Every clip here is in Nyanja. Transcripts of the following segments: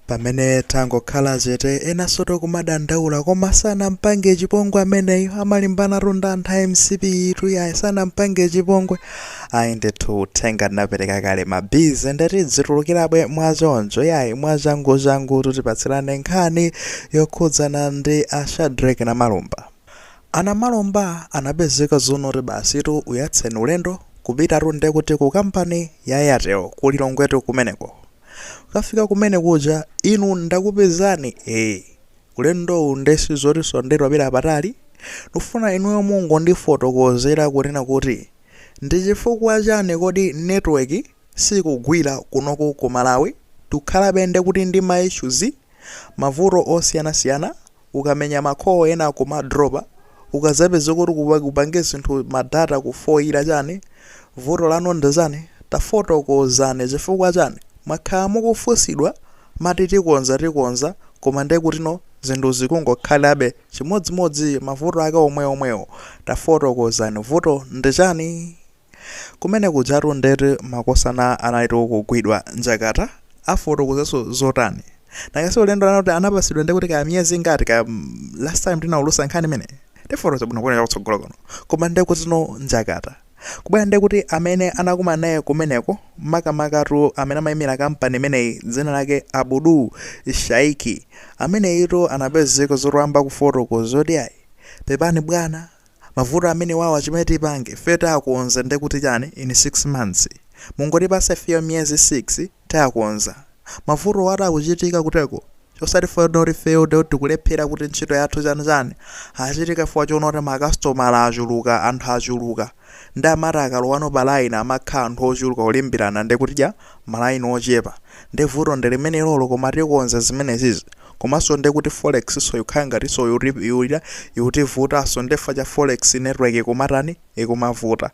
Pamene tangokhala chete enansotu kumadandaula koma sanampange chipongwe ameneyo amalimbanatu ndi anthu a MCP-itu yayi sanampange chipongwe ayi ndithu uthenga ndinapereka kale ma busy ndeti dzitulukirabwe mwachoncho yayi mwachanguchangu tutipatsirane nkhani yokhudzana ndi a Shadrack Namalomba a Namalomba anapezeka zonoti basitu uyatseni ulendo kupitatu ndekuti ku kampani ya Airtel ku Lilongwetu kumeneko Kukafika kumene kuja inu ndakupezani ee. Ulendowu nde sizotinso nde tapita patali. Ndikufuna inuyo mungondifotokozera kunena kuti ndi chifukwa chani kodi network sikugwira kunoko ku Malawi? Tikukhalabe nde kuti ndi ma issues, mavuto osiyanasiyana ukamenya ma call ena kumadropa ukazapeza kuti upange zinthu ma data kufoira chani vuto lanu ndi chani tafotokozani chifukwa chani mwakhala mukufunsidwa mati tikonza tikonza koma nde kutino zinthu zikungokhalabe chimodzimodzi mavuto ake omwe omwewo tafotokozani vuto ndi chani? Kumene kujatu ndeti makosana analitu kugwidwa njakata afotokozeso zotani? Nanga si ulendo anati anapasidwa ndekuti ka miyezi ingati ka last time tinaulusa nkhani imeneyi tifotokoza bwino kuonera kutsogolo kuno koma ndekutino njakata kubwera ndekuti amene anakumana naye kumeneko makamakatu amene amayimira kampani imeneyi dzina lake Abudu Shaiki ameneyitu anapezeka zoti wayamba kufotokoza zoti ayi pepani bwana Mavuto amenewawa chimene tipange ifeyo tiwakonza ndekuti chani in 6 months mungotipasa ifeyo miyezi 6 tiwakonza mavutowatu akuchitika kuteko osati fukwa choti ifeyo tikulephera kuti ntchito yathu chani chani achitika fukwa chonoti makastomala achuluka anthu achuluka nde amati akalowano pa laini amakhala anthu ochuluka kulimbirana ndekuti malaini ochepa nde vuto ndilimenelolo koma tikonza zimenezizi komanso nde kuti forexso yikukhala ngatinso yikutivutanso nde fukwa cha forex network ikumatani ikumavuta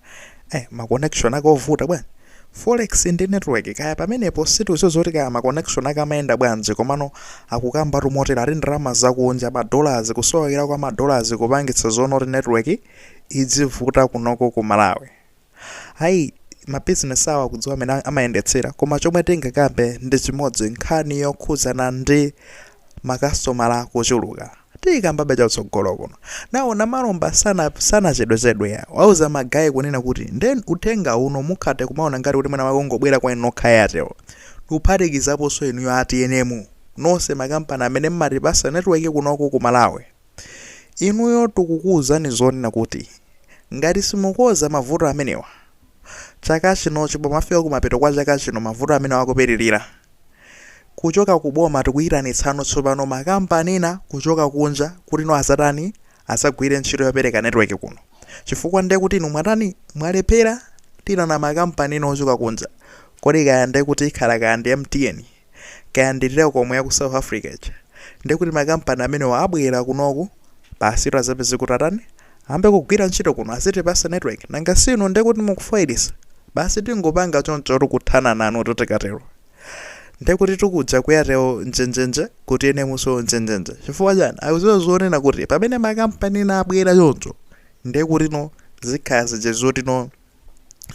eh ma connection ake ovuta bwanji forex ndi network kaya pamenepo sitidziwa zoti kaya ma connection ake amayenda bwanji komano akukamba tumotero ati ndalama zakunja ma dollars kusowekera kwa ma dollars kupangitsa zonoti network idzivuta kunoko ku malawi Ayi, mabizinesi awo akudziwa amene amayendetsera koma chomwe tingakambe ndi chimodzi nkhani yokhudzana ndi makasitomala kuchuluka tiyikambabe chakutsogolo kuno nawo namalomba sanachedwechedwe ya wauza magaye kunena kuti nde uthenga uno musakhale kumaona ngati kuti mwina wangobwera kwa inu nokha a Airtel kuphatikizaponso inuyo a tnm nonse makampani amene mmatipasa netiweki kunoko ku malawi Inuyo tikukuuzani zonena kuti ngati simukonza mavuto amenewa chaka chinochi pomafika kumapeto kwa chaka chino mavuto amenewa akupitirira. Kuchoka ku boma tikuyitanitsano tsopano makampani ena kuchoka kunja kuti no azatani azagwire ntchito yopereka network kuno. Chifukwa nde kuti inu mwatani mwalephera tiyitana makampani ena ochoka kunja. Kodi kaya nde kuti ikhala kaya ndi MTN? kaya ndi telkom yaku south africa ija ndekuti ma company amenewa abwera kunoku basitu azapeze kuti atani ambe kugwira ntchito kuno azitipasa network nanga si inu ndekuti mukufoyilitsa basi tingopanga choncho tikuthana nanu totikatero ndekuti TNM kuja ku airtel njenjenje ku tnm nso njenjenje chifukwa chani akuziwa zonena kuti pamene makampani ena abwera choncho ndekuti no zikhala zija zoti no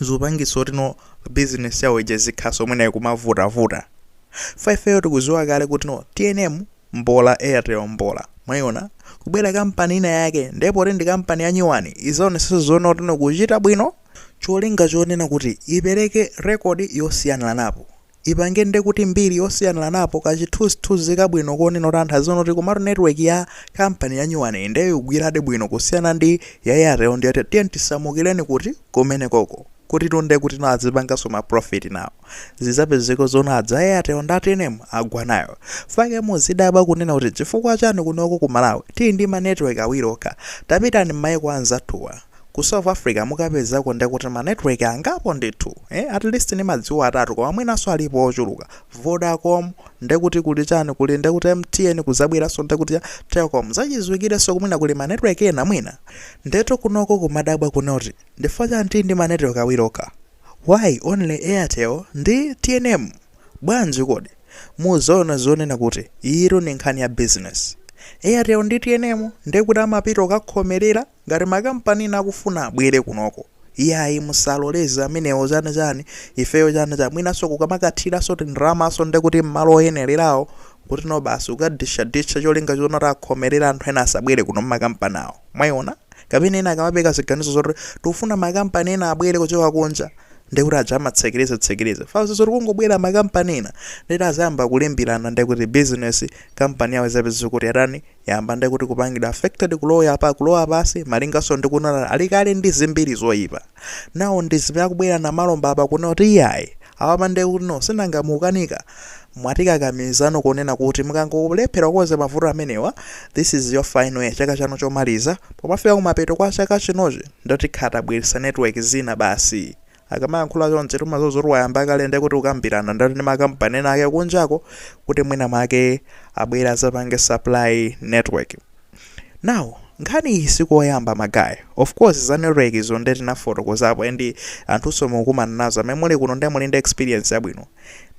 zipangitsa kuti no business yawo ija zikhanso mwina ikumavutavuta chifukwa ifeyo tikuziwa kale kuti no tnm mbola airtel mbola mwayiona kubwera kampani ina yake ndipo ndi kampani ya nyuwani izaonetsetsa zoona kuti no kuchita bwino cholinga chonena kuti ipereke rekodi yosiyaniranapo ipange nde kuti mbiri yosiyanilanapo ka chithunzithunzi kabwino konena kuti anthu aziona kuti komatu network ya company ya nyuwaniyi nde yugwiradi bwino kusiyana ndi ya airtel ndi yoti tiyeni tisamukireni kuti kumenekoko kuti nde kuti nawo azipanganso ma profit nawo zizapezeka zoona adza airtel ndi a tnm agwa nayo chifukwa chake muzidabwa kunena kuti chifukwa chani kunoko ku malawi tili ndi ma network awiri okha tapitani m'mayiko anzathuwa Ku South Africa mukapezako nde kuti ma network angapo ndithu eh at least nimadziwa atatu koma mwinanso alipo ochuluka, Vodacom nde kuti kuli chani kuli nde kuti MTN kuzabweranso nde kuti cha Telkom zachiziwikirenso kuti mwina kuli ma network ena mwina. Ndetu kunoko kumadabwa kunena kuti ndifukwa chani tili ndi ma network awiri okha why only Airtel ndi tnm bwanji kodi? Muzaona zonena kuti iyitu ndi nkhani ya business Airtel ndi tnm nde kuti amapita kukakhomelera, Ngati ma company ena akufuna abwele kunoko iyayi musaloleze amenewo chani chani ifeyo chani chani mwinaso kukamakathilaso tindalamaso ndekuti mmalo oyenelelawo kutino basi ukadisha disha cholinga choti akhomelele anthu ena asabwele kuno mma company awo mwaiona kapena ena akamapereka ziganizo zoti tikufuna ma company ena abwele kuchoka kunja ndekuti aja amatsekeleza tsekeleza chifukwa amaziwa zoti kungobwela ma company ena ndeti azayamba kulimbilana ndekuti business company yawo izapezeka kuti yatani yamba nde kuti kupangidwa affected kulowa pa kulowa pansi malinganso ndi kunena ali kale ndi zimbiri zoyipa nawo ndi zimene akubwera namalomba apa kunena kuti iyayi awapa nde kuti no sinanga mukukanika mwatikakamizano kunena kuti mukangolephera kukonza mavuto amenewa this is your final year chaka chanu chomaliza pomafika kumapeto kwa chaka chinochi nde tikha tabweretsa network zina basi akamayankhula chonchi timaziwa zoti wayamba kale ndiye kuti kukambirana ndati ndi makampani ena ake kunjako kuti mwina mwake abwere azapange supply network now nkhani iyi sikoyamba ma guy of course za network izo nde tinafotokozapo and anthunso mukukumana nazo amene muli kuno nde muli ndi experience yabwino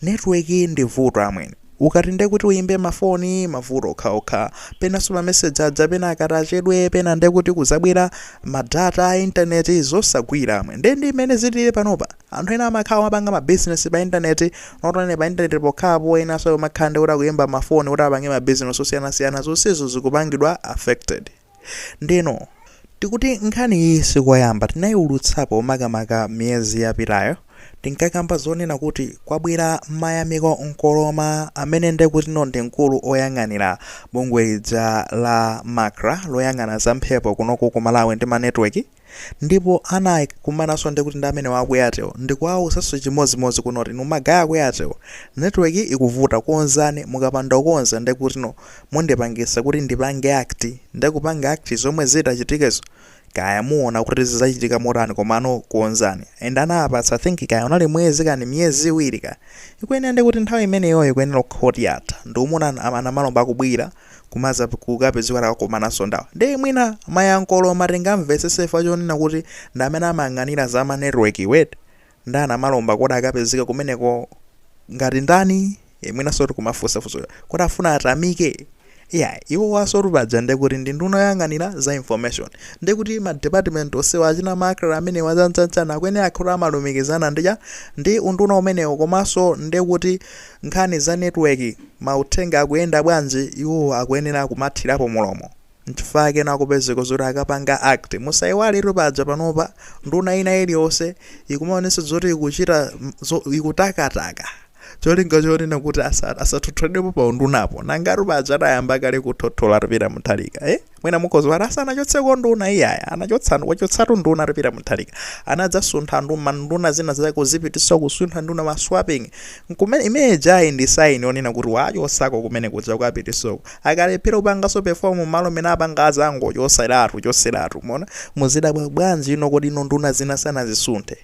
Network ndi vuto amwene. Ukati nde kuti uyimbe ma phone mavuto okhaokha. Penaso ma message aja pena akatachedwa pena nde kuti kuzabwera ma data a internet zosagwira amwene. Nde ndi mmene zilili panopa. Anthu ena amakhala kumapanga ma business pa internet not only pa internet pokhapo enaso akumakhala nde kuti akuyimba ma phone kuti apange ma business osiyanasiyana zonsezo zikupangidwa affected. Ndeno tikuti nkhani iyi sikoyamba tinayiulutsapo makamaka miyezi yapitayo tinkakamba zonena kuti kwabwera Mayamiko Nkoloma amene ndekutino ndi mkulu oyang'anira bungwe lija la Macra loyang'ana za mphepo kunoko ku Malawi ndi ma network. Ndipo anakumananso ndekuti ndi amenewa aku Airtel ndikuwauzaso chimodzimodzi kunena kuti inu ma guy aku Airtel network ikuvuta konzani mukapanda kukonza ndekutino mundipangitsa kuti ndipange act nde kupanga act zomwe zitachitikezo kaya muona kuti zizachitika motani komano konzani and anawapatsa I think kaya unali mwezi kani miyezi iwiri kaya ikuyenera ndekuti nthawi imeneyoyo ikuyenera kukhala kuti yatha nde kuti a Namalomba akubwera kumaza kukapezeka atakakomananso ndawa nde mwina mayankhulo mutha kumvesesa chifukwa chonena kuti ndi amene amayang'anira za ma network wait nde a Namalomba kodi akapezeka kumeneko ngati ndani e, mwinanso kuti kumafunsa funso kuti afuna atamike iya iwowa sotu paja nde kuti ndi nduna yoyang'anira za information nde kuti ma department onsewa achina Macra amenewa zanzanzana akwene akhoto amalumikizana ndi unduna umenewo komanso nde kuti nkhani za network mauthenga akuyenda bwanji iwo akuyenera kumathirapo mulomo nchifukwa chake ena akupezeka zoti akapanga act musaiwaletu paja panopa nduna ina iliyonse ikumaonetsa zoti ikuchita zo, ikutakataka cholinga chonena kuti asa, asathotholedwepo pa undunapo nangatu paja adayamba kale kuthothora Peter Mutharika eh? mwina mukhoza kuti asanachotseko nduna iyaya anachotsa wachotsatu nduna a Peter Mutharika anadzasuntha ndu manduna zina zake kuzipitisa kusuntha nduna ma swapping nkumene imene ijayi ndi sign onena kuti wachosako kumene kuja kukamupitisako akalephera kupangaso perform malo amene apawa azangochoseratu choseratu mwina muzidabwa bwanji ino kodi ino nduna zina sanazisunthe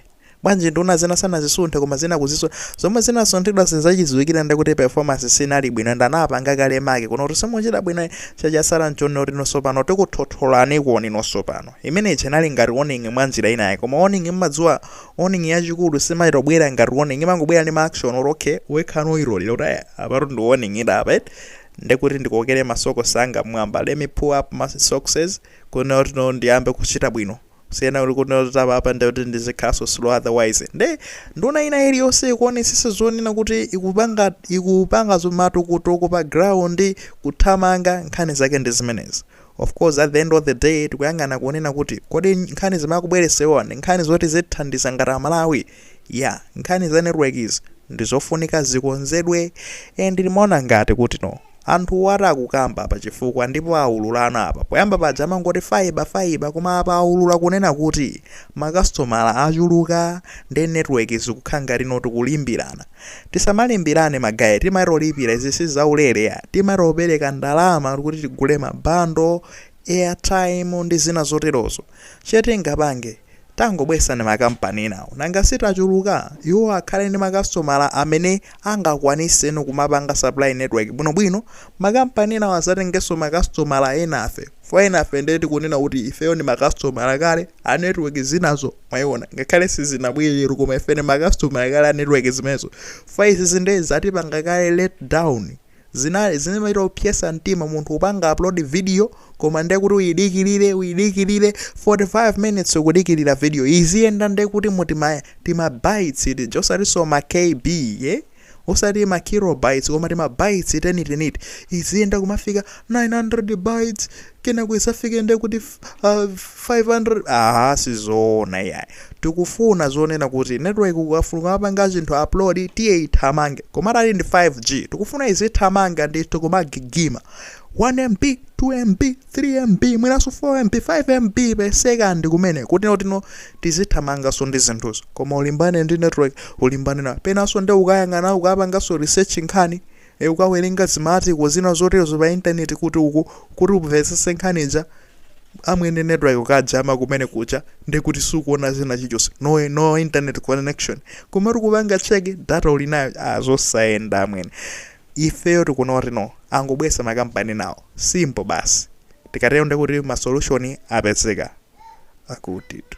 Bwanji nduna zina sanazisunthe koma zina kuzisuntha? Zomwe zinasunthidwazo nzachidziwikire nde kuti performance sinali bwino and anapanga kale mark kunena kuti simuchita bwinoyi so chatsala nchonena kuti inunso pano tikuthotholaniponi inunso pano. Imene ija inali ngati warning mwanjira ina yake koma warning mumadziwa warning yachikulu simachitobwera ngati warning imangobwera ndi ma action oti okay wekha nudziwonera kuti aya apatu ndi warning ili apa eti nde kuti ndikokere masokosi anga mmwamba let me pull up my sockses kunena kuti no ndiyambe kuchita bwino Kusiyana kuli kunena kuti apa apa ndikuti ndizikhalaso slow otherwise. Nde nduna ina iliyonse ikuonesesa zonena kuti ikupanga ikupanga zomatukutuku pa ground kuthamanga nkhani zake ndi zimenezi. Of course at the end of the day tikuyang'ana kunena kuti kodi nkhani zimene akubweresewa ndi nkhani zoti zithandiza ngati Amalawi. Yeah, nkhani za network izi nzofunika zikonzedwe and timaona ngati kuti no. Anthuwo ati akukamba apa chifukwa ndipo aululana apa. Poyamba paja amangoti fibre, fibre koma apa aulula kunena kuti makasitomala achuluka ndi network zikukhala ngati no tikulimbirana. Tisamalimbirane ma guy timaitolipira izi si zaulere ya, timaitopereka ndalama kuti tigule ma bundle airtime ndi zina zoterozo chetingapange tangobwesani makampani enawo nanga sitachuluka iwo akhale ndi makasitomala amene angakwanise kumapanga supply network bwinobwino makampani enawo azatengeso makasitomala enafe fukwa enafe nde tikunena kuti ifeyo ndi makasitomala kale a network zinazo mwaiona ngakhale sizinabwere koma ife ndi makasitomala kale a network zimenezo fukwa izizi nde zatipanga kale let down Zinali zimachita kupyesa mtima munthu kupanga upload video koma nde kuti uyidikirire uyidikirire 45 minutes ukudikirira video iziyenda nde kuti mu tima tima bytes tija osatinso ma kb osati ma kilobytes koma tima bytes tenitenite iziyenda kumafika 900 bytes kenako isafike nde kuti f- ah, 500 aha sizoona iyayi tikufuna zonena kuti network ukafuna kupanga chinthu upload tiye ithamange koma ati ali ndi 5g tikufuna izithamanga ndithu kumagigima 1mb 2mb 3mb mwinanso 4mb 5mb per second kumene kuti nafenso tizithamanganso ndi zinthuzo koma ulimbane ndi network ulimbane na penanso nde ukayang'ana ukapanganso research nkhani e Ukawerenga zima article zina zoterozo pa internet kuti uku kuti umvetsetse nkhani ija amwene network ikajama kumene kuja ndi kuti sukuona zina chilichonse no, no internet connection koma uti ukapanga check data uli nayo ah, zosayenda amwene ifeyo tikuona kuti no angobwesa makampani enawo simple basi tikatero ndikuti ma solution apezeka akutitu